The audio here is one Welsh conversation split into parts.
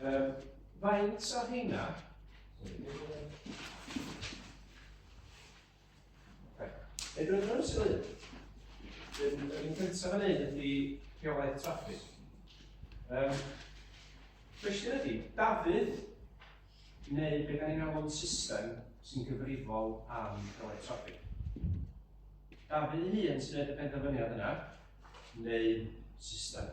Um, faint o hynna? Edrych yn ysgol un. Yr un cyntaf yn un ydy rheolaeth traffig. Um, Cwestiwn ydy, Dafydd, neu beth da ni'n alw'n system sy'n gyfrifol am rhoi traffig. Dafydd ei hun sy'n gwneud y penderfyniad yna, neu system.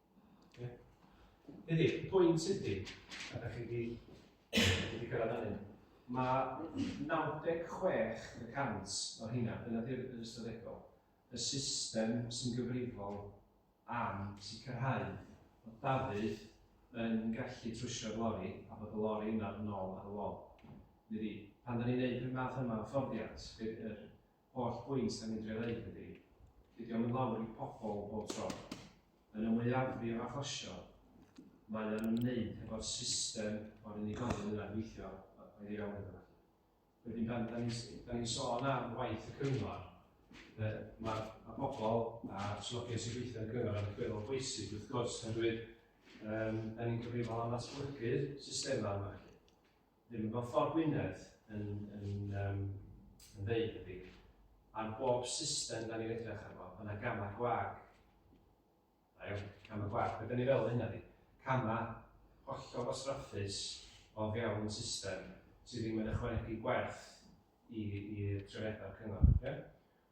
Okay. Ydy, y pwynt ydy, a da chi wedi wedi gyrraedd hynny, mae 96% o hynna, dyna di'r ystadegol, y system sy'n gyfrifol am sicrhau bod Dafydd yn gallu trwsio'r lori a bod y lori yna yn ôl ar y lol. Ydy, pan da ni'n gwneud y math yma o fforddiant, yr Holl bwynt da ni'n drio neud ydi, dydi o'm i lawr i pobl bob tro. Yn y mwyafrif o achosion, mae o'n ymwneud hefo'r system o'r unigolyn yna'n gweithio o'i le iawn iddo fo. Wedyn pan da ni'n s- da ni'n sôn am waith y cyngor, yy ma' ma' pobl a swyddogion sy'n gweithio yn y cyngor yn allweddol bwysig wrth gwrs oherwydd yym da ni'n cyfrifol am ddatblygu'r systema yma 'lly. Ddim fel ffordd Gwynedd yn ddeud debyg, ar bob system dan ni'n edrych arno, mae yna gamau gwag. Da iawn, camau gwag. Be dan ni feddwl hynna ydi, camau hollol wastraffus o fewn system sydd ddim yn ychwanegu gwerth i'r trefniadau o'r cyngor. Ie?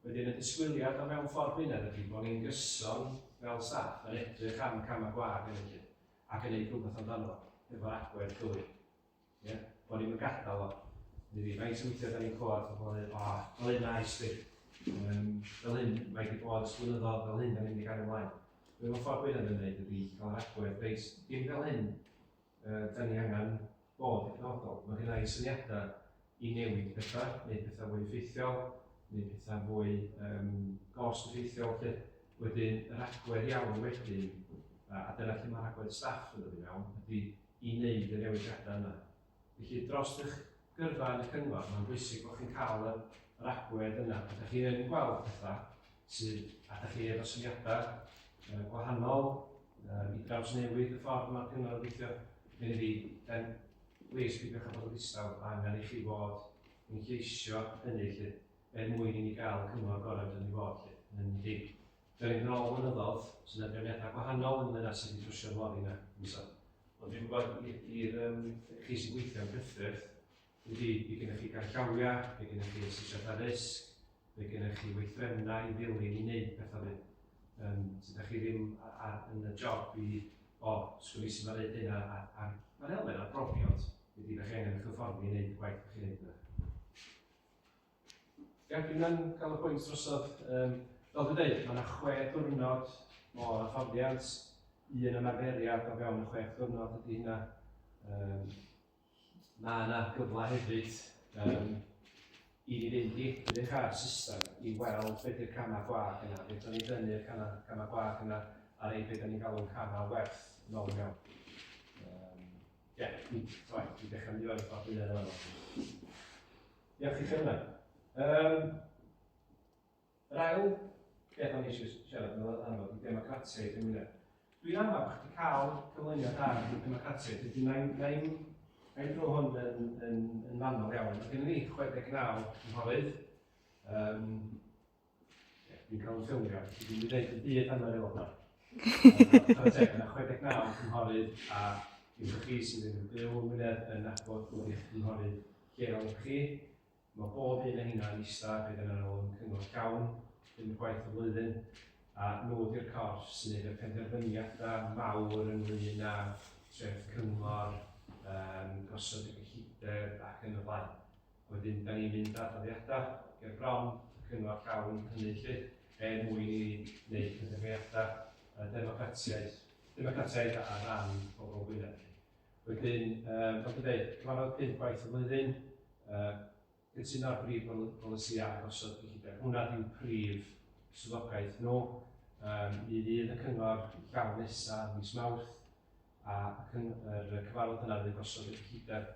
Wedyn y disgwyliad o mewn ffordd Gwynedd ydy bod ni'n gyson fel staff yn edrych am camau gwag yn y lle ac yn neud rhywbeth amdano fo hefo'r agwedd gywir. Ie? Bod ni'n yn gadael o. Ni fi, faint o weithiau da ni'n clywed o bod yn o, fel hyn a esbyd. Um, fel hyn, mae wedi bod sgwynyddodd fel hyn, da ni'n mynd i gael ymlaen. Be mae ffordd Gwynedd yn gwneud ydy cael yr agwedd, reit, dim fel hyn, uh, da ni angen bod yn penodol. Mae gen i syniadau i newid pethau, neu pethau fwy effeithiol, neu pethau fwy um, gost effeithiol. Lle. Wedyn, yr agwedd iawn wedyn, a, a dyna lle mae'r agwedd staff yn dod i mewn, ydy i wneud y newidiadau yna. Felly, dros eich gyrfa yn eich cyngor, mae'n bwysig bod chi'n cael yr, yr agwedd yna. Pan ydych chi yn gweld pethau sydd, a ydych chi efo syniadau uh, gwahanol uh, i draws newid y ffordd mae'r cyngor yn gweithio, neu fi, then please pidiwch â bod yn ddistaw, mae angen i chi fod yn lleisio hynny lle, er mwyn i ni gael cyngor gorau dyn ni fod lle, yn enedig Dwi angen ôl blynyddodd, sy'n na drefniadau gwahanol ynglyn â sut i drwsio'r lori yna, Miso. Ond dwi'n gwybod i'r um, chi sy'n gweithio yn Prydferth, wedi i gennych chi garllawiau, fe gennych chi asesiad ar risg, fe gennych chi weithrefnau i ddilyn i wneud pethau ni. Um, sydd â chi ddim ar, yn y job i, o, oh, sgwni sy'n ma'n neud hynna, a, a mae'n elfen o brofiad, wedi i chi angen eich hyfforddi i wneud y gwaith chi'n neud yna. Ie, dwi'n yn cael y pwynt drosodd. Um, fel dwi'n dweud, mae yna chwe diwrnod o hyfforddiant, un ymarferiad o fewn y chwe diwrnod ydy hynna. Um, mae yna gyfle hefyd um, i ni fynd i edrych ar system i weld beth yw'r camau gwag yna, beth o'n i'n dynnu'r camau gwag yna a rei beth o'n i'n galw'n camau werth yn ôl mewn. Ie, dwi'n dechrau mynd i fod yn ffordd yn yna. Diolch i chi hwnna. Um, yr ail beth o'n eisiau siarad yn ôl amlwg i democratiaeth yn Wynedd. Dwi'n amlwg bod chdi cael cyflwyniad da i democratiaeth, felly mae'n nain, nain dro hwn yn, yn, yn fanol iawn. Mae gen i 69 cynghorydd, um, Fi'n cael sylwio, fi wedi dweud y byd am yr aelodau. Chwarae teg, yna 69 cynghorydd a yw'r chi sydd yn byw yn Wynedd yn nabod bod eich cynghorydd lleol ych chi. Mae bob un o hynna yn eista bydd yn ôl yn cyngor llawn, yn gwaith y flwyddyn, a nhw wedi'r corff sy'n ei y penderfyniadau mawr ynglyn â treth cyngor, um, gosod y gyllideb ac yn y blaen. Wedyn, da ni'n mynd â dyddiadau ger bron y cyngor llawn hynny 'lly, er mwyn i ni wneud penderfyniadau democratiaeth, democratiaeth ar ran pobl Gwynedd 'lly. Wedyn, fel dwi'n dweud, cyfarfod pum gwaith y flwyddyn, gytuno'r brif bolisïau a gosod cyllideb. Hwnna ydy'w prif swyddogaeth nhw. Mi fydd y cyngor llawn nesaf mis Mawrth, a y cyfarfod yna fydd gosod y cyllideb.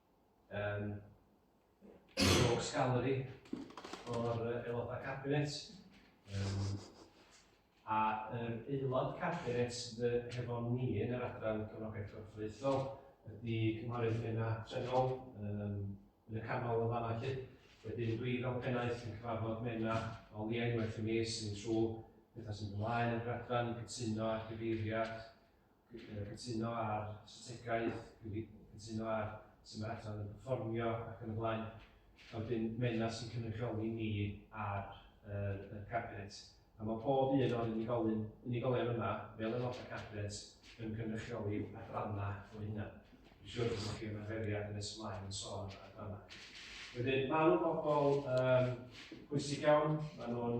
um, Rogues Gallery o'r aelodau cabinet, um, a yr aelod cabinet hefo ni yn yr adran cyfnogaeth corfforaethol ydy Cynghorydd Mena Trenol um, yn y canol yn fanna chi. Wedyn dwi fel pennaeth yn cyfarfod Mena o liau unwaith y mis yn trwy pethau sy'n ymlaen yn yr adran, cytuno a chyfeiriad cytuno ar strategaeth, cytuno ar sut mae'r adran yn perfformio ac yn y blaen. A wedyn mae yna sy'n cynrychioli ni ar yr, y cabinet. A mae pob un o'r unigolyn, unigolion yma, fel yn o'r cabinet, yn cynrychioli adrannau o hynna. Dwi'n siŵr bod chi yma feriad yn nes ymlaen yn sôn am adrannau. Wedyn, maen nhw'n bobl um, pwysig iawn, maen nhw'n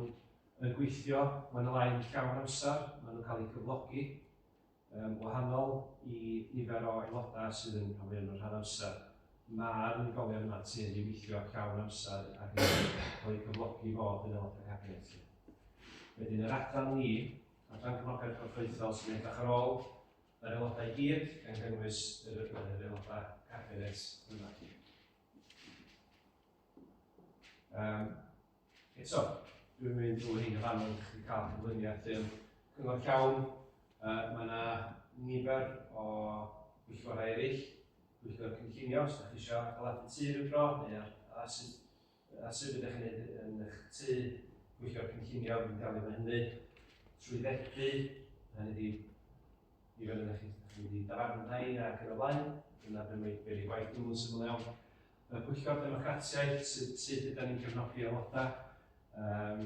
yn gweithio, mae nhw yn llawn amser, mae nhw'n cael eu cyflogi yn wahanol i nifer o aelodau sydd yn cael yn rhan amser. Mae'r unigolion yma sy'n ei weithio llawn amser ac yn cael eu cyflogi fod yn aelodau cabinet. Wedyn yr adran ni, adran cyflogaeth gorffoethol sy'n edrych ar ôl yr aelodau gyd, gan gynnwys yr aelodau cabinet yma. Um, Eto, dwi'n mynd drwy hyn y fan hyn, chi'n cael cyflyniad yn cyngor llawn. Uh, mae yna nifer o bwyllgorau eraill, bwyllgor cynllunio, os ydych chi eisiau adeiladu tu rhyw dro, neu ar, ar, sut, ar sut ydych chi'n gwneud yn eich tu, bwyllgor cynllunio, fi'n delio efo hynny, trwy ddethu, a ni wedi nifer ydych chi'n mynd i dafarn rhain ac yn y blaen, dyna beth mae'n byr i gwaith dwi'n syml iawn. y Pwyllgor Democratiaeth, sut, sut ydym ni'n cefnogi aelodau, um,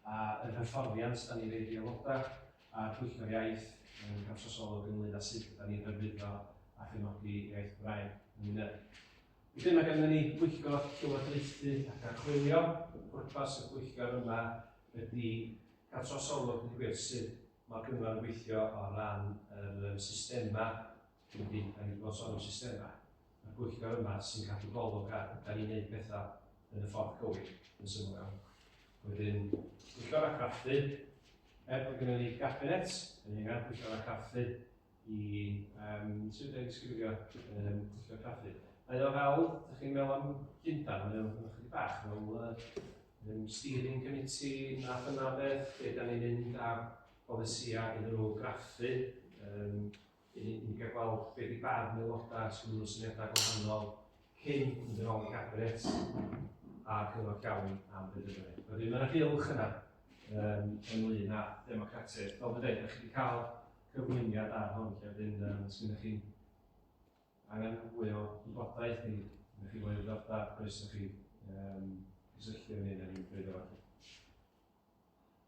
a yr hyfforddiant ydym ni'n rhaid i aelodau, a'r Pwyllgor Iaith yn gamsosol ynglyn â sut ydym ni'n hyrwyddo a chefnogi iaith Gymraeg yn Wynedd. Felly mae gennym ni bwyllgor llywodraethu ac archwilio. Pwrpas y bwyllgor yma ydy cael trosolwg yn gwir sut mae'r cyngor yn gweithio o ran yr um, systemau Trydydd, da ni wedi bod yn sôn am systemau. Mae'r pwyllgor yma sy'n cadw golwg ar da ni'n gwneud pethau yn y ffordd cywir yn syml iawn. Wedyn, pwyllgor a craffu, er bod gennym ni gabinet, yn ni'n angen pwyllgor a craffu i um, sydd wedi disgrifio um, pwyllgor craffu. Mae o fel, da chi'n meddwl am Llundain, mae o'n chydig bach fel uh, um, steering committee, na dyna beth, lle da ni'n mynd ar polisiau iddyn nhw graffu, um, Dyn ni wedi cael gweld be di barn aelodau os gynnu nhw syniadau gwahanol cyn mynd yn ôl i gabinet a cyfnod llawn am benderfynu. Wedyn mae yna gylch yna um, ynglyn â democratiaeth. Fel dwi'n dweud, ydych chi wedi cael cyflwyniad ar hwn, lle wedyn um, os ydych chi'n angen fwy o wybodaeth neu ydych chi fwy o ddordab, croeso chi um, cysylltu â ni neu ni'n bryd o fath.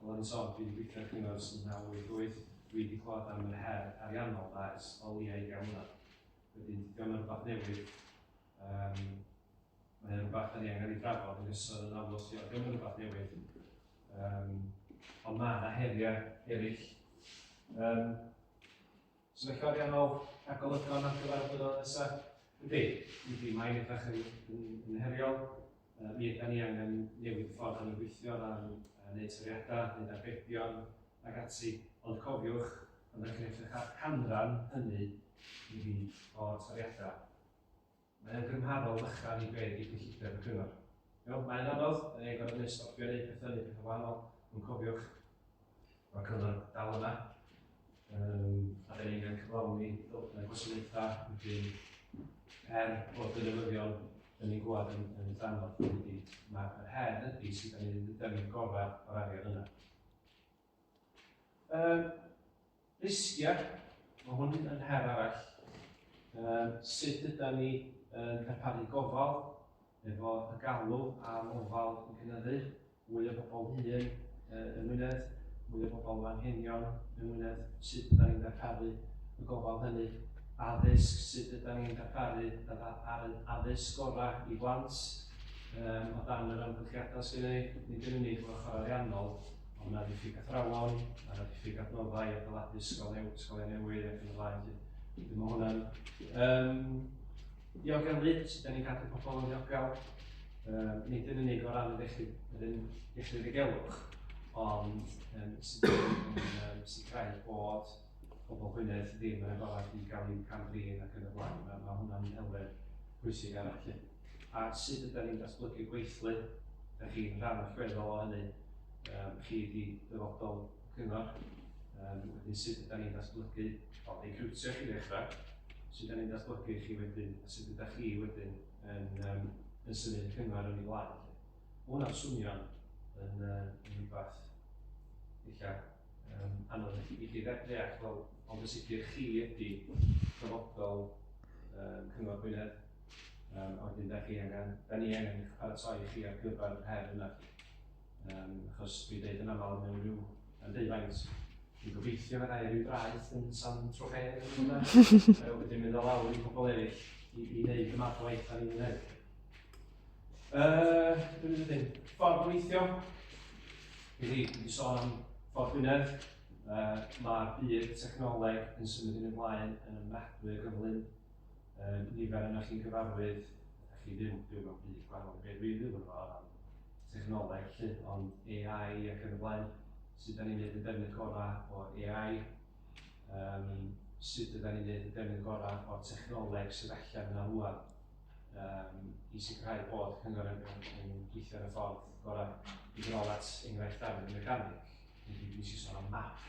Wel am y sôn, dwi 'di gweithio ar Cyngor ers 1988, dwi 'di clywed am yr her ariannol 'na ers o leia' ugain mlynedd. Wedyn dydi o'm yn rwbath newydd, yym mae o'n rwbath 'dan ni angen 'i drafod yn gyson yn amlwg lly, ond 'di o'm yn rwbath newydd. Yym ond ma' 'na heria' erill. Yym. Sefyllfa ariannol a golygon ar gyfer y blynyddoedd nesaf? Ydy, ydy, mae'n edrych yn, yn, yn heriol. Uh, mi ydy ni angen newid y ffordd yn y gweithio ran uh, neu toriadau, neu arbedion ac ati. Ond cofiwch, byddwch chi'n edrych ar canran hynny i fi o'r toriadau. Mae o'n gymharol fychan i be' 'di cyllideb y cyngor. Iawn, mae'n anodd, 'dan ni'n gorfod neud stopio neud petha, neud petha wahanol, ond cofiwch, mae'r cyngor dal yna, um, a 'dan ni'n angen cyflawni ddylunau gwasanaethau, wedyn her bod yn newyddion, 'dan ni'n gwybod yn, yn eitha anodd, wedi, mae'r her ydy sydd 'dan ni'n mynd yn gorau o'r arian yna. Um, risgiau, mae hwn yn her arall. Um, sut ydy ni yn darparu gofal efo y galw am ofal yn cynyddu, mwy o bobl hyn uh, yng Ngwynedd, mwy o bobl fan henion yng Ngwynedd, sut ydy ni'n darparu y gofal hynny, addysg, sut ydy ni'n darparu ar y addysg gorau i blant, um, o dan yr ymgylchiadau sy'n ei, nid yn unig o'r ochr ariannol, Mae yna ddiffyg athrawon, mae yna ddiffyg adnoddau, adeiladu ysgol newydd, ysgol newydd ac yn y blaen. Felly mae hwnna'n... Um, diogel lyd, sut da ni'n cadw pobl yn ddiogel, um, nid yn unig o ran yr iechyd, yr un iechyd ddigelwch, ond um, sut da ni'n um, sicrhau bod pobl Gwynedd ddim yn agored i gael eu cam-drin ac yn y blaen. Mae, mae hwnna'n elfen pwysig arall. At sut ydan ni'n datblygu gweithlu, da chi'n rhan allweddol o hynny, um, chi di dyfodol cyngor, um, wedyn sut ydan ni'n datblygu, o, recriwtio chi ddechrau, sut ydan ni'n datblygu chi wedyn, a sut ydych chi wedyn yn, um, yn symud cyngor yn ei blaen. Mae hwnna'n swnio'n yn, uh, yn rhywbeth eich um, anodd i chi ddeall, ond yn sicr chi ydy dyfodol um, Cyngor Gwynedd Yym, ond dyn da chi angen, da ni angen eich paratoi chi ar gyfer yr her yna. Um, achos dwi'n dweud yn aml mewn rhyw yn deufaint, dwi'n gobeithio fe rai rhyw draeth yn San Trofe, wedyn mynd o lawr i pobl eraill i, i wneud y math o waith da ni'n gwneud. Uh, dwi'n mynd yn ffordd o weithio, i fi, dwi'n sôn am ffordd Gwynedd, uh, mae'r byd technoleg yn symud yn ymlaen yn ymwneud gyflym Yym, nifer ohonoch chi'n gyfarwydd, ydych chi ddim, byw mewn byd gwahanol i be dwi'n byw ynddo fo o ran technoleg 'lly, ond AI ac yn y blaen, sut 'dan ni'n neud y defnydd gora' o AI, yym sut ydan ni'n neud y defnydd gora' o'r technoleg sydd allan yna rŵan, yym i sicrhau bod cyngor yn yn yn gweithio yn y ffordd gora'. Mynd yn ôl at enghraifft Dafydd y Mecanig, dwi 'di sôn am map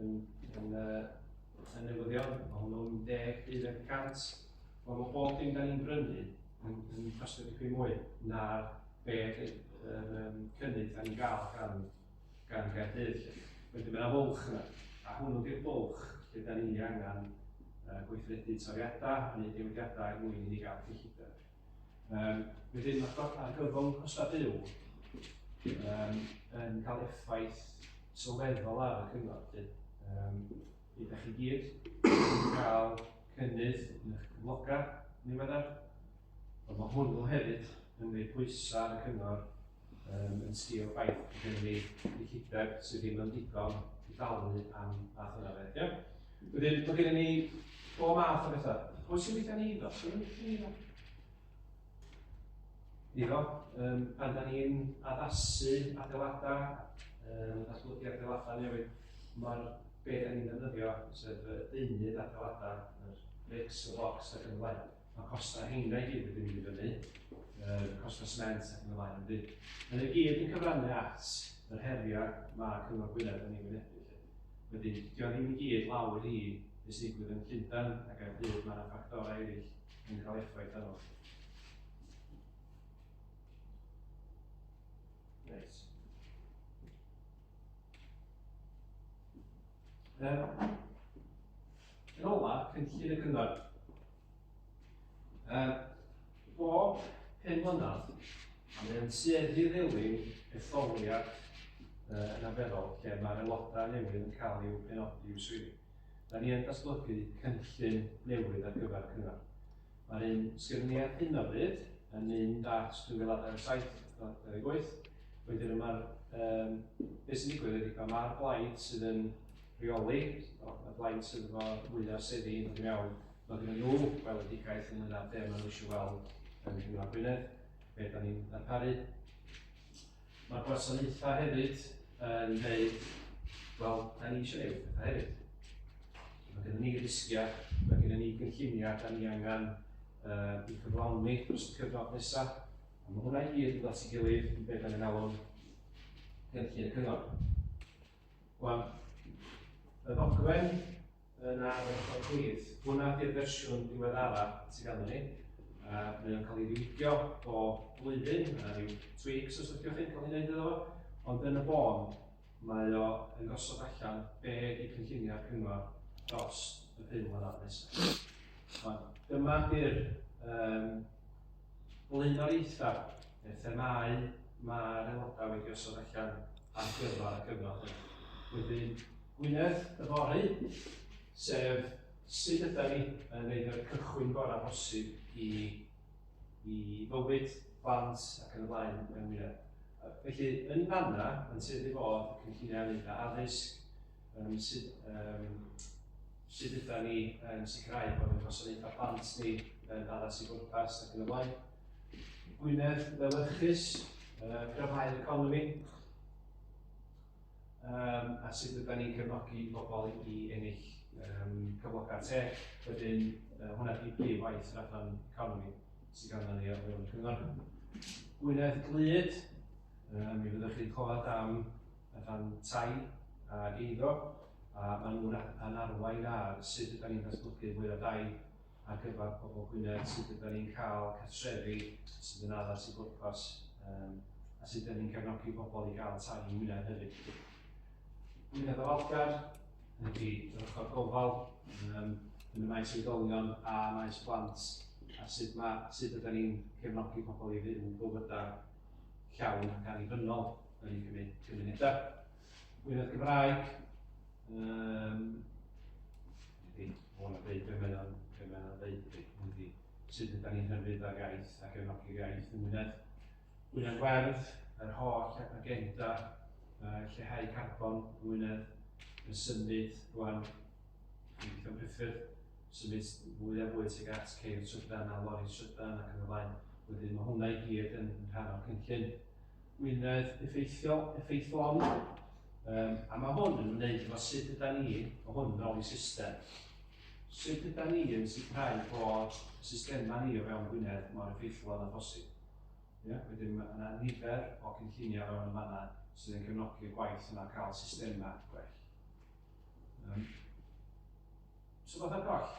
yn, yn, uh, yn newyddion, mae hwnnw'n 10 hyd yn 100. Ond mae bob dim da ni'n brynu yn, yn costio dipyn mwy na be yr um, cynnydd da ni'n gael gan, gan Gaerdydd. Felly mae'n fwlch yna, a hwnnw di'r bwlch lle da ni angen uh, gweithredu toriadau a wneud newidiadau er mwyn i ni gael cyllideb. Um, wedyn mae argyfwng costau byw um, yn cael effaith sylweddol ar y cyngor. Um, Bydd ydych chi gyd yn cael cynnydd yn eich cyflogau niweddar, ond mae hwnnw hefyd yn gwneud pwysau ar y cyngor um, yn sgil ffaith bod gen ni gyllideb sydd ddim yn digon i dalu am fath yna beth, ie? Wedyn, mae gen ni bob math o bethau. Pwy sy'n gweithio ni iddo? Pwy sy'n gweithio ni iddo? Iddo, um, pan da ni'n addasu adeiladau, um, datblygu adeiladau newydd, mae'r beth da ni'n defnyddio, sef y deunydd adeiladau, yr bricks, y box ac yn blaen. Mae costau heina i gyd wedi mynd i fyny, uh, costau sment ac yn y blaen yn byd. Mae'n ei gyd yn cyfrannu at yr heriau mae Cyngor Gwynedd yn ei wynebu. Wedi, dio ddim i gyd lawr i beth sy'n digwydd yn Llundain ac ar byd mae yna ffactorau eraill yn cael effaith arno. Reit. Um, Yn ola, cynllun y cyngor. Um, bob pen mlynedd, a mae'n tueddu ddewin etholiad uh, yn aferol lle mae'r aelodau newydd yn cael i'w benodi i'w swyddi. Da ni yn datblygu cynllun newydd ar gyfer cyngor. Mae'r un sgynni ar hyn o bryd yn un dart 2027, not 28. Wedyn y mae'r um, beth sy'n digwydd ydy pan mae'r blaid sydd yn rheoli, y blaid sydd efo mwyaf seddi yn iawn, mae gen nhw weledigaeth yn yna be maen nhw eisiau weld yn Rhyngraf Gwynedd, be da ni'n darparu. Mae'r gwasanaethau hefyd yn dweud, wel, da ni eisiau gwneud pethau hefyd. Mae gennym ni risgiau, mae gennym ni gynlluniau, da ni angen uh, i cyflawni dros y cyfnod nesaf. A mae hwnna i gyd yn dod at ei gilydd yn beth yn alw'n gynllun y cyngor. Wel, y ddogfen yn ardderchog plîs. Hwnna di'r fersiwn diweddara sydd ganddo ni. Uh, mae o'n cael ei ddiwygio bob blwyddyn, mae yna rhyw tweaks os ydych chi'n cael ei wneud iddo fo, ond yn y bôn, mae o yn gosod allan be i cynllunio'r cyngor dros y pum mlynedd nesaf. Ond dyma di'r um, Blaenoriaethau, neu'r themâu mae'r aelodau wedi osod allan ar gyfer y cyfnod hyn. Wedyn, Gwynedd yfory, sef sut yda ni yn gwneud yr cychwyn gorau posib i, i fywyd, plant ac yn y blaen mewn Gwynedd. Felly, yn fanna, yn tueddu fod y cynlluniau ynglyn â addysg, Yym, sut, yym, sut ydan ni yn sicrhau bod ein gwasanaethau plant ni yn addas i bwrpas ac yn y blaen. Gwynedd lewyrchus, uh, gryfhau'r economi, um, a sut ydan ni'n cefnogi pobl i ennill um, cyflogau teg, wedyn uh, hwnna di prif waith yr adran economi sydd ganddo ni ar fewn y cyngor. Gwynedd glyd, um, mi fyddwch chi'n clywed am y rhan tai ag eiddo a maen nhw'n yn arwain ar sut ydan ni'n datblygu mwy o dai ar gyfer pobl Gwynedd, sut ydan ni'n cael cartrefi sydd yn addas i bwrpas um, a sut ydan ni'n gefnogi pobl i gael tai i Wynedd hefyd. Wynedd o Algar ydy yr ochr gofal um, yn y maes oedolion a maes plant a sut, mae, sut ydan ni'n cefnogi pobl i fyw bywydau llawn ac annibynnol. Wedi cymryd tri munudau. Gwynedd Cymraeg. Um, Ydy, o'n a dweud be mae'n o'n dweud, ydy, sut ydyn ni'n hyfryd ar iaith ac yn hoffi'r iaith yn Gwynedd. Gwynedd Werdd, yr holl agenda uh, lleihau carbon yn Gwynedd, yn symud rwan, yn gweithio'n priffyrdd, symud fwy a fwy tuag at ceir trydan a lori trydan ac yn y blaen. Wedyn mae hwnna i gyd yn rhan o'r cynllun Gwynedd effeithiol, effeithlon, um, a mae hwn yn wneud efo sut yda ni, o hwn fel i system. Sut yda ni yn sicrhau bod y systemau ni o fewn Gwynedd mor effeithlon â phosib. Yeah? Wedyn mae yna nifer o cynlluniau fewn y fanna sydd yn cefnogi y gwaith yna cael systemau gwell. Um, so fath ar goll.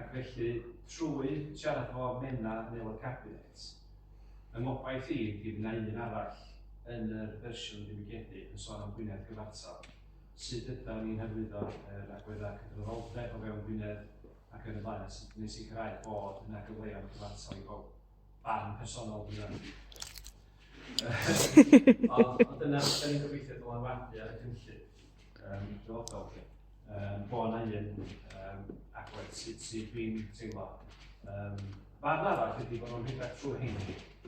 ac felly trwy siarad efo Menna yn Aelod Cabinet, fy ngobaith i ydi fy' 'na un arall yn yr fersiwn ddiwygiedig yn sôn am Gwynedd gyfartal, sut ydan ni'n hyrwyddo yr agweddau cydraddoldeb o fewn Gwynedd ac yn y blaen a sut ydan ni'n sicrhau bod yna gyfleon cyfartal i bawb. barn personol fi fan. Ond dyna beth ni'n gobeithio bod o'n wadu ar y cynllun dyfodol chi. Bo yna un agwedd sydd dwi'n teimlo. Barn arall ydy bod nhw'n rhedeg trwy hyn.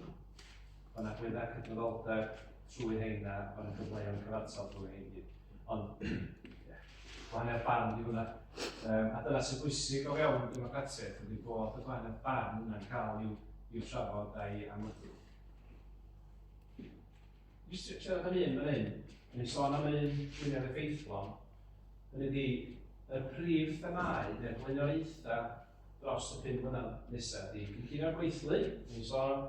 Bod yna gwedda cydraddoldeb trwy hyn a bod yna gyfleoedd cyfartal drwy hyn. Ond, ie, Gwahaniaeth barn ydy hwnna. Yym, a dyna sy'n bwysig o fewn democratiaeth ydy bod y gwahaniaeth barn yna'n cael i'w i'w trafod a'i amlygu. Jyst siarad am un fan hyn, yn ei sôn am yr un gwynedd effeithlon, hynny ydy, y prif themau neu'r blaenoriaethau dros y pum mlynedd nesaf ydy cynllunio'r gweithlu, yn ei sôn,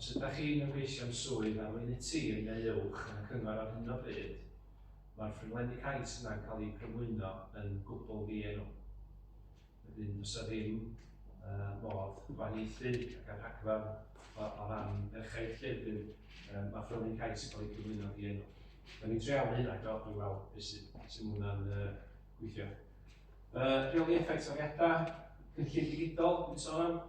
Os ydych chi'n ymgeisio am swydd ar Weinid Tîm neu Uwch yn y Cyngor ar hyn o bryd, mae'r ffurflenni cais yna'n cael eu cyflwyno yn gwbl ddienw. Wedyn, does 'na ddim modd gwahaniaethu ac ar rhagfarn o ran merchaid lle wedyn mae ffurflenni cais yn cael eu cyflwyno'n ddienw. Dan ni'n treialu hynna eto i weld beth sy'n sut mae hwnna'n gweithio. Rheoli effaith toriadau, cynllun digidol dwi'n sôn am.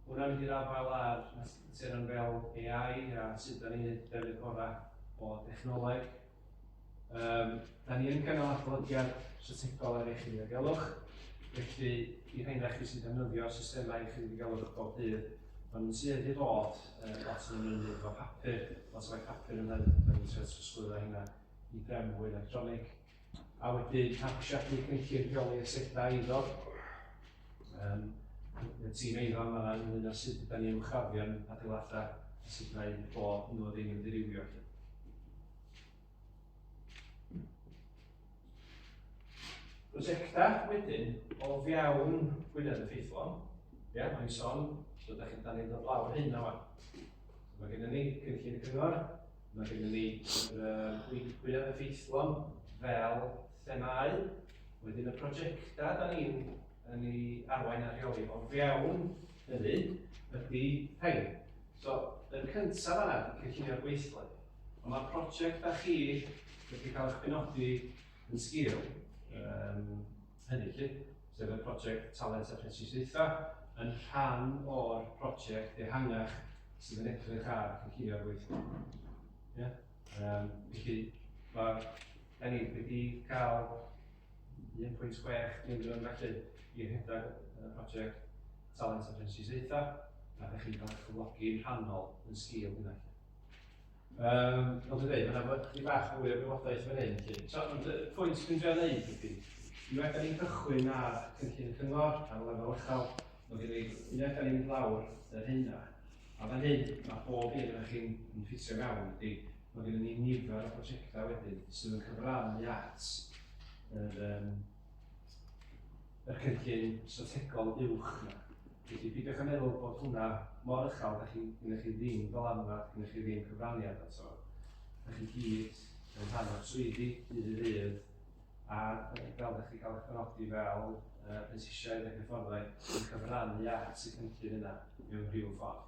Hwnna'n hir afael ar materion fel AI a sut dan ni'n neud y defnydd gorau o dechnoleg. Yym, dan ni yn cynnal adolygiad strategol ar iechyd ddiogelwch, felly i rhain o'ch chi sy'n defnyddio systemau iechyd ddiogelwch bob dydd, maen nhw'n tueddu i fod yy lot yn ymwneud efo papur, lot o waith papur yn hynny, dan ni'n trio trosglwyddo hynna i drefn fwy electronig. A wedyn mabsiadu'r cynllun rheoli asedau eiddo. Um, y tîm eiddo yma yn ynglyn â sut yda ni'n uwchraddion adeiladau a sut mae bod nhw ddim yn dirywio. Prosiectau wedyn o fewn Gwynedd yn ffeithlon. Ie, yeah, mae'n son, so da chi'n dan ni'n dod lawr hyn yma. Mae gennym ni cynllun y cyngor, Mae gennym ni yr gwyneb effeithlon fel themâu. Wedyn y prosiectau da ni'n yn ei arwain a rheoli o fewn hynny ydy rhain. So, yn cyntaf fanna, cynllunio'r gweithle. Ond mae'r prosiect da chi wedi cael eich penodi yn sgil um, hynny 'lly, sef y project Talent a Phrentisiaethau, yn rhan o'r project ehangach sydd yn edrych ar cynllunio'r weithlu. Ie? Yym, felly, mae da ni wedi cael 1.6 miliwn felly i rhedeg y project Talent a Phrentisiaethau, a da chi'n cael eich cyflogi'n rhannol yn sgil hynna. Um, fel dwi'n dweud, mae yna chydig bach mwy o gwybodaeth fan hyn. Felly. So, ond y pwynt dwi'n drio wneud ydy, i wedi ni'n cychwyn ar cynllun y cyngor ar y lefel uchel, mae gen i unwaith da ni'n lawr yr hynna. A fan hyn, mae bob un o'ch chi'n ffitio mewn ydy, mae gen i nifer o prosiectau wedyn sydd yn cyfrannu at yr, um, y cynllun strategol uwch yna. Felly peidiwch a meddwl bod hwnna mor uchel, da chi, gennych chi ddim dylanwad, gennych chi ddim cyfraniad ato. Da chi gyd yn rhan o'r swyddi dydd i ddydd, a fel da chi'n cael eich penodi fel uh, prentisiaid ac hyfforddai, yn cyfrannu at y cynllun yna mewn rhyw ffordd.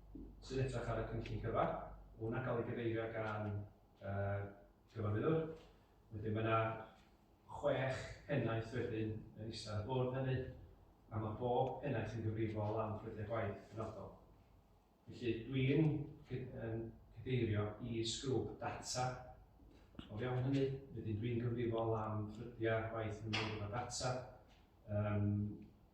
sy'n edrych ar y cynllun cyfa. Mae hwnna'n cael ei gyfeirio gan uh, cyfarwyddwr. Wedyn mae yna chwech pennaeth wedyn yn eistedd ar y bwrdd hynny, a mae bob pennaeth yn gyfrifol am ffrydiau gwaith penodol. Felly dwi'n cydeirio i sgrwb data o fewn hynny, wedyn dwi'n gyfrifol am ffrydiau gwaith yn mynd o data, um,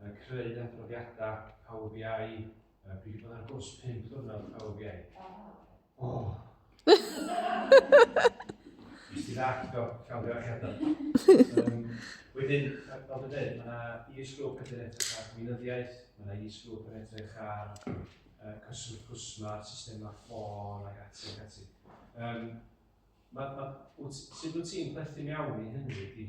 uh, creu adroddiadau Power BI, uh, fi wedi bod ar gwrs 5 blynedd Power BI. O! Oh. Nes ti ddall, do, cael ddioch eto. Um, wedyn, fel dwi'n dweud, mae yna e-sgrwp yn edrych ar gweinyddiaeth, mae yna e-sgrwp yn edrych ar uh, cyswllt cwsma, systemau ffôn ac ati ac ati. Um, ma, ma, sut wyt ti'n perthyn iawn i hynny?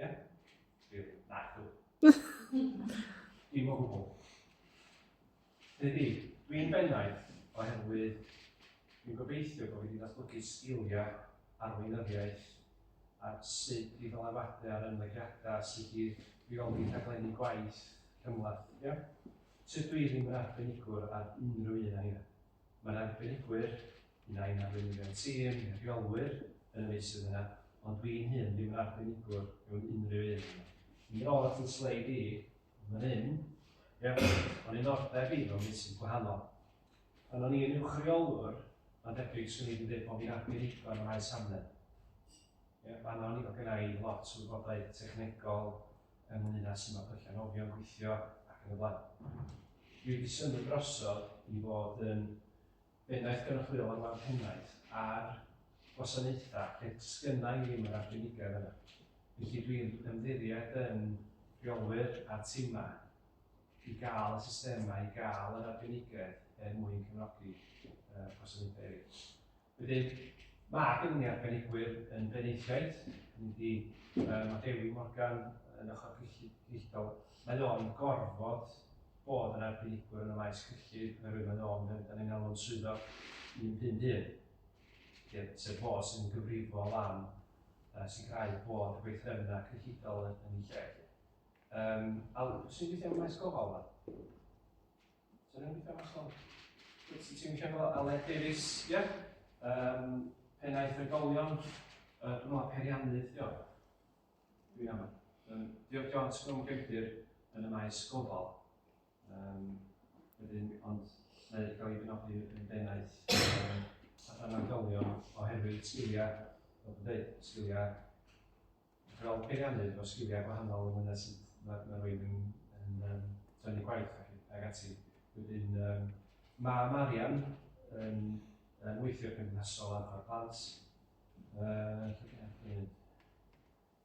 Ie? Ie. Naco. Dim o gwbl. Dydy, dwi'n bennaeth oherwydd dwi'n gobeithio bod fi wedi datblygu sgiliau ar weinyddiaeth a sut i ddylanwadu ar ymddygiadau, sut i reoli rhaglenni gwaith cymhleth. Ie? Tydw i ddim yn arbenigwr ar unrhyw un o hynny. Mae'r arbenigwyr, un ai'n arweinyddion tîm neu reolwyr yn y meysydd yna, ond dwi'n hun ddim yn arbenigwr mewn unrhyw un yna. Mi oedd fy sleid i, fan hyn, ie, o'n i'n ordeb i mewn meysydd gwahanol. Pan o'n i'n uwchreolwr, mae'n debyg swn i wedi dweud bod fi'n arbenigwr yn y maes amlen. Ie, fan'na o'n i, oedd gynna i lot o wybodaeth technegol, ynglŷn â sut mae perchenogion gweithio ac yn y blaen. Dwi wedi symud drosodd i fod yn bennaeth gynrychiol ar wal pennaeth ar wasanaethau lle sgynna i ddim yr arbenigedd yna. Felly dwi'n ymddiried yn rheolwyr a timau i gael y systemau, i gael yr arbenigedd er mwyn cefnogi uh, gwasanaethau eraill. Wedyn, mae gen i arbenigwyr yn benaethiaid, ni di, um, mae Dewi Morgan yn ochr cyllidol. Mae o'n gorfod bod yn arbenigwr yn y maes cyllid, oherwydd mae o'n mynd dan ni'n alw'n swyddog 151, sef fo sy'n gyfrifol am uh, sicrhau bod y gweithrefna cyllidol yn, yn ei lle. Um, Al, sy'n gweithio yn y maes gofal yma? Ti'n cefno Aled Davies, ie? Yeah. Um, pennaeth y golion, uh, dwi'n meddwl periannydd, dio. Dwi'n am. Um, diolch John Sgwm Gymdir yn y maes gofal. Um, wedyn, ond mae gael ei benodi yn bennaeth um, allan o'r golion oherwydd sgiliau, fel dwi'n dweud, sgiliau fel peiriannydd o sgiliau gwahanol yn myned sut mae, mae rwy'n yn, yn um, tynnu gwaith ac, ac ati. Wedyn, um, mae Marian yn, yn weithio cymdeithasol ar y plant. Uh,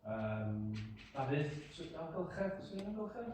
um, Dafydd, amgylchedd, sy'n amgylchedd?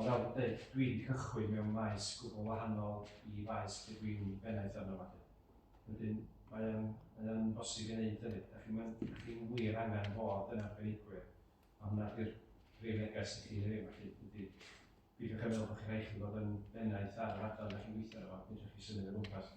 O fel byth, dwi 'di cychwyn mewn maes gwbl wahanol i faes lle dwi'n bennaeth arno fo 'lly. Wedyn, mae o'n, mae o'n bosib i neud hynny. Dach chi'm yn, dach chi'm wir angan bod yn arbenigwyr, a hwnna 'di'r brif neges i chi heddiw 'ma 'lly, ydi peidiwch â meddwl bod chi'n rhaid i chi fod yn bennaeth ar yr adran dach chi'n gweithio arno fo, fedrwch chi symud o gwmpas.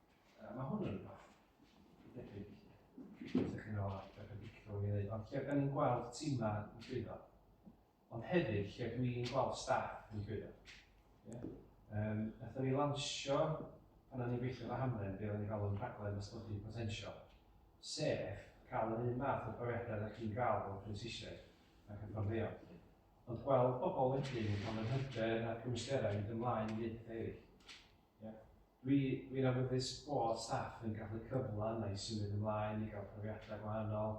Uh, mae hwn yn rhywbeth debyg. Ydych chi'n meddwl ar beth yn dictio yn ei wneud, ond lle gan i'n gweld tîmau yn llwyddo, ond hefyd lle dwi'n gweld staff yn llwyddo. Yeah. Um, Nathon ni lansio, pan o'n i'n gweithio efo Hamlen, be o'n i'n galw'n rhaglen ysgogi potensial, sef cael yr un math o brofiadau ydych chi'n gael o'r prensisiaid ac yn fforddio. Ond gweld pobl wedyn yn cael yr hyder a'r cymwysterau i ymlaen i wneud pethau eraill. Dwi, dwi'n awyddus bod staff yn cael y cyfle yna i symud ymlaen, i gael profiadau gwahanol,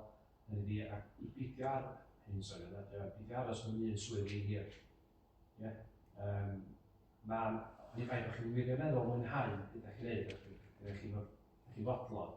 hynny ydi, a i beidio ar- hyn, sori, yna, ydy o, i beidio aros mewn un swydd rhy hir. Ie? Yym, Ma'n, oni bai bod chi'n wirioneddol mwynhau beth dach chi'n neud, a dwi- dwi- dach chi'n fod- dach chi'n fodlon,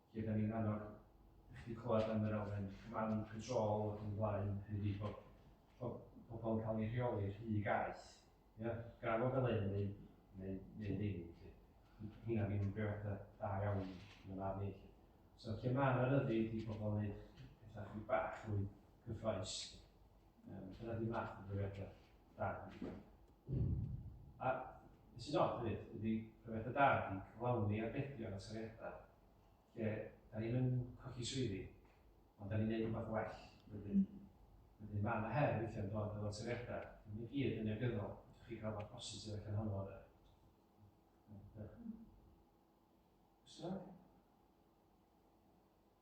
lle da ni'n annog i chi clywed am yr elfen command control ac yn blaen, hynny ydi bod pobl yn cael ei rheoli rhy gaeth. Ia? Gan fod fel un neu, neu, neu ddim, lle. Hynna ddim yn brewada da iawn yn y man ni. So, lle mae yna ryddid i pobl yn gwneud pethau chi bach mwy cyffroes, um, dyna di math o brewada da. A beth sy'n od hefyd ydy profiad y da ydy cyflawni arbedion a toriadau lle da ni'n yn colli swyddi ond da ni'n neud rhywbeth well wedyn. Wedyn mae yna her weithiau'n dod efo toriadau, ddim i gyd yn negyddol, ydych chi cael rhywbeth positif ac yn honno yna. Cwestiwn?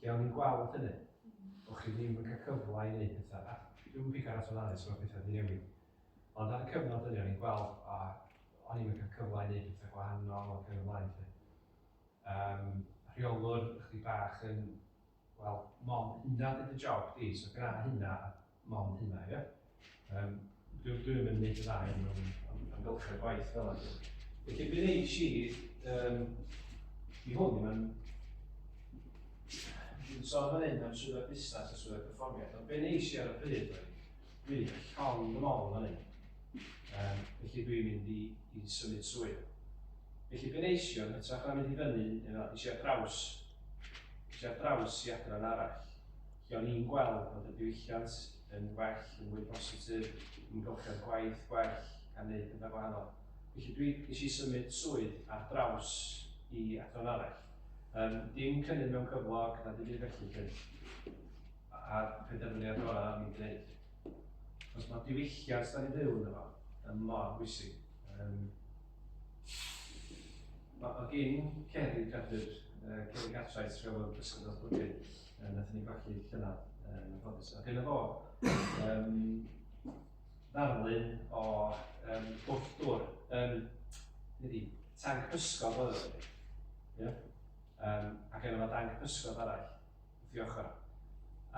Lle o'n i'n gweld hynny? O'ch chi ddim yn cael cyfle i wneud pethau. A dwi'm yn pigo ar at Anais, mae pethau wedi newid. Ond ar y cyfnod hynny, o'n i'n gweld, a o'n i'n cael cyfle i wneud pethau gwahanol ac yn y blaen. Lle. Um, rheolwr, chdi bach yn, wel, mond hynna dyd y job di, so gyda hynna, Mond hynna, ie? Um, dwi, dwi ddim yn neud y dda hyn mewn amgylchedd gwaith fel yna. Felly, be neis i, um, i hwn, mae'n... Dwi'n sôn fan hyn am swyddfa busnes a swyddfa perfformiad, ond be neis i ar y pryd oedd, dwi'n llon fy mol fan hyn. Um, felly dwi'n mynd i, i symud swydd. Felly be neis i o'n hytrach na mynd i fyny, eisiau draws, eisiau draws i adran arall. Lle o'n i'n gweld bod y diwylliant yn well, yn fwy positif, ni'n gofio'r gwaith gwell gan wneud pethau gwahanol. Felly dwi, nes i symud swydd ar draws i adran arall. Um, dim cynnydd mewn cyflog na dim byd felly cyn. A penderfyniad gorau am i'n gwneud. Os mae diwylliant da ni'n byw yn fo, yn mor bwysig. Um, mae gen Ceri Cadwyr, uh, Ceri Gatwraeth, rheolwr Pysgod Osbwrgyn, Um, Nath ni golli llynedd, um, yn ffodus. A dyna fo, um, ddarlun o um, gwrth dŵr. Um, Nid tank pysgod oedd ydy. Yeah. Um, ac yna mae dank pysgod arall, wrth i ochr.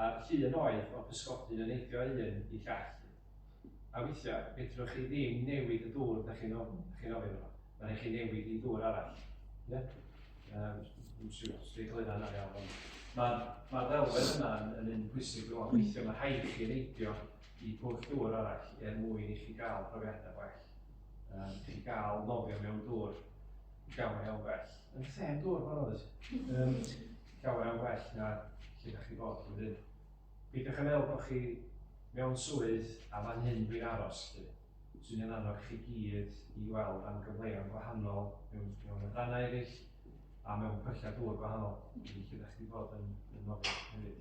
A'r llun oedd o pysgodyn yn eidio un i llall. A weithiau, fedrwch chi ddim newid y dŵr dych chi'n ofn, dych chi'n ofyn o, mae rhaid chi newid i ddŵr arall. Ie? Um, dwi'n siŵr os dwi'n egluro hynna'n iawn, ond mae'r ma ddelwedd yna yn, yn un pwysig rwan. Mm. Weithiau mae rhaid chi neidio i pwll dŵr arall er mwyn i chi gael profiadau gwell. Um, chi gael nofio mewn dŵr llawer iawn gwell. Yn lle yn dŵr, mae'n oes. Um, llawer iawn gwell na lle da chi bod. Peidiwch a meddwl bod chi mewn swydd a fan hyn dwi'n aros 'lly. Swn i'n annog chi gyd i weld am gyfleon gwahanol mewn mewn adrannau eraill a mewn pyllau dŵr gwahanol lle fyddech chdi fod yn yn nofio hefyd.